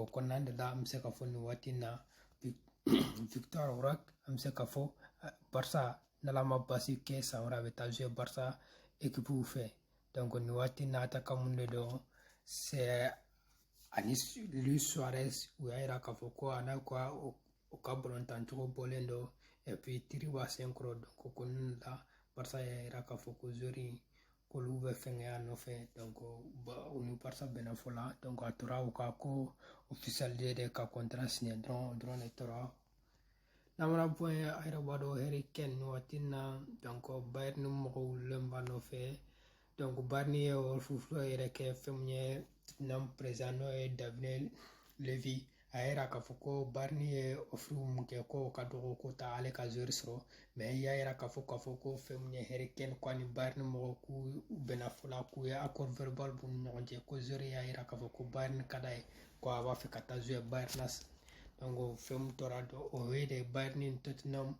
o kɔnɔna de la an bɛ se ka fɔ nin waati in na vitor roque an bɛ se ka fɔ barisa n'ala ma basi kɛ san wɛrɛ a bɛ taa zuye barisa ekipuw fɛ nin waati in na atakan mun de don sɛ ani luis suarez u y'a yira k'a fɔ ko a n'a ka u ka balontan cogo bɔlen don epi tiri b'a sen kɔrɔ ko ko ninnu la barisa y'a yira k'a fɔ ko zori k'olu bɛ fɛnkɛ a nɔfɛ u ni barisa bɛnna fɔ la a tora u ka ko ofisali de ka kɔntara siɲɛ dɔrɔn o dɔrɔn de tora n'a mana bɔ yen a yɛrɛ b'a dɔn harry kane nin waati in na bayɛrini mɔgɔw wulilen b'a nɔfɛ bayɛrini ye ofiri yɛrɛ kɛ fɛn min ye président n'o ye daniel levy a y'a yira k'a fɔ ko barini ye ofiri mun kɛ k'o ka dɔgɔ k'o t'ale ka zori sɔrɔ mɛ i y'a yira k'a fɔ k'a fɔ ko fɛn mun ye harry kane ko ani barini mɔgɔ k'u bɛnna fɔ la k'u ye akɔri vɛribali b'u ni ɲɔgɔn cɛ ko zori y'a yira k'a fɔ ko barini ka d'a ye ko a b'a fɛ ka taa zuye barini na fɛn mun tora dɔrɔn o ye de barini ni totinamu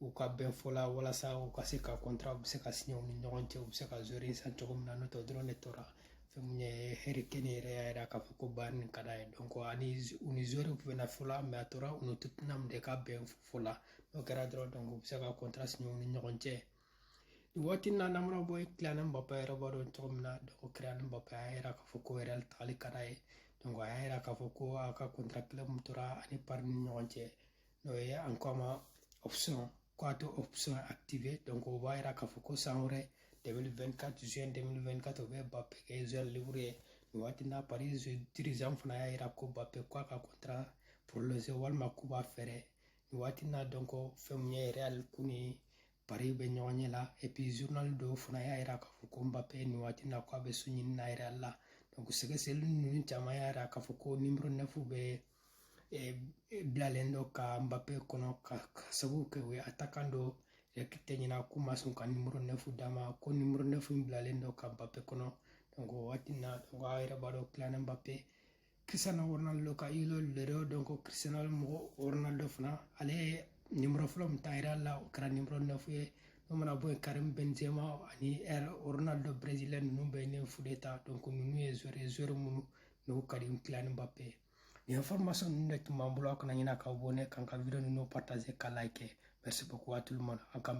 u ka bɛn fɔ la walasa u ka se ka kɔntra u bɛ se ka siɲɛ u ni ɲɔgɔn cɛ u bɛ se ka zori san cogo min na n'o tɛ dɔrɔn de tora fɛn mun ye harry kane yɛrɛ y'a yira k'a fɔ ko barini ka d'a ye ani u ni zori bɛnna fɔ la mɛ a tora u ni totinamu de ka bɛn fɔ la n'o kɛra dɔrɔn u bɛ se ka kɔntra siɲɛ u ni ɲɔgɔn cɛ nin waati na n'o mana bɔ yen kylian mbappe yɛrɛ b'a dɔn cogo min na ko kylian mbappe y'a yira k'a fɔ ko real tagali ka d'a ye a y'a yira k'a fɔ ko a ka kɔntra kelen mun tora a ni pari ni ɲɔgɔn cɛ n'o ye an ko a ma option ko a t'o option active donc o b'a yira k'a fɔ ko san wɛrɛ 2024 juin 2024 o bɛ mbappe kɛ joueur libre ye nin waati na paris dirigeant fana y'a yira ko mbappe ko a ka contrat prolongé walima k'u b'a feere nin waati na donc fɛn min ye real k'u ni paris bɛ ɲɔgɔn ɲɛ la et puis journal dɔw fana y'a yira k'a fɔ ko mbappe nin waati na ko a bɛ so ɲini na real la donc sɛgɛsɛgɛli ninnu caman y'a yira k'a fɔ ko nimero 9 bɛ bilalen don ka mbappe kɔnɔ ka sabu kɛ u ye atakan dɔ ta ɲinan k'u ma sɔn ka nimoro nɛfu d'a ma ko nimoro nɛfu in bilalen don ka mbappe kɔnɔ o waati na a yɛrɛ b'a dɔn kylian mbappe cristiano ronaldo ka idole de don ko cristiano mɔgɔ ronaldo fana ale ye nimoro fɔlɔ min ta real la o kɛra nimoro nɛfu ye n'o mana bɔ yen karim benzema ani ronaldo brésilien ninnu bɛɛ ye nɛfu de ta donc ninnu ye zori zori minnu ne ko ka di kylian mbappe ye nin information ninnu de tun b'an bolo aw kana ɲinɛ k'aw abonner k'an ka video ninnu partager ka like merci beaucoup a tout le monde an k'an bɛn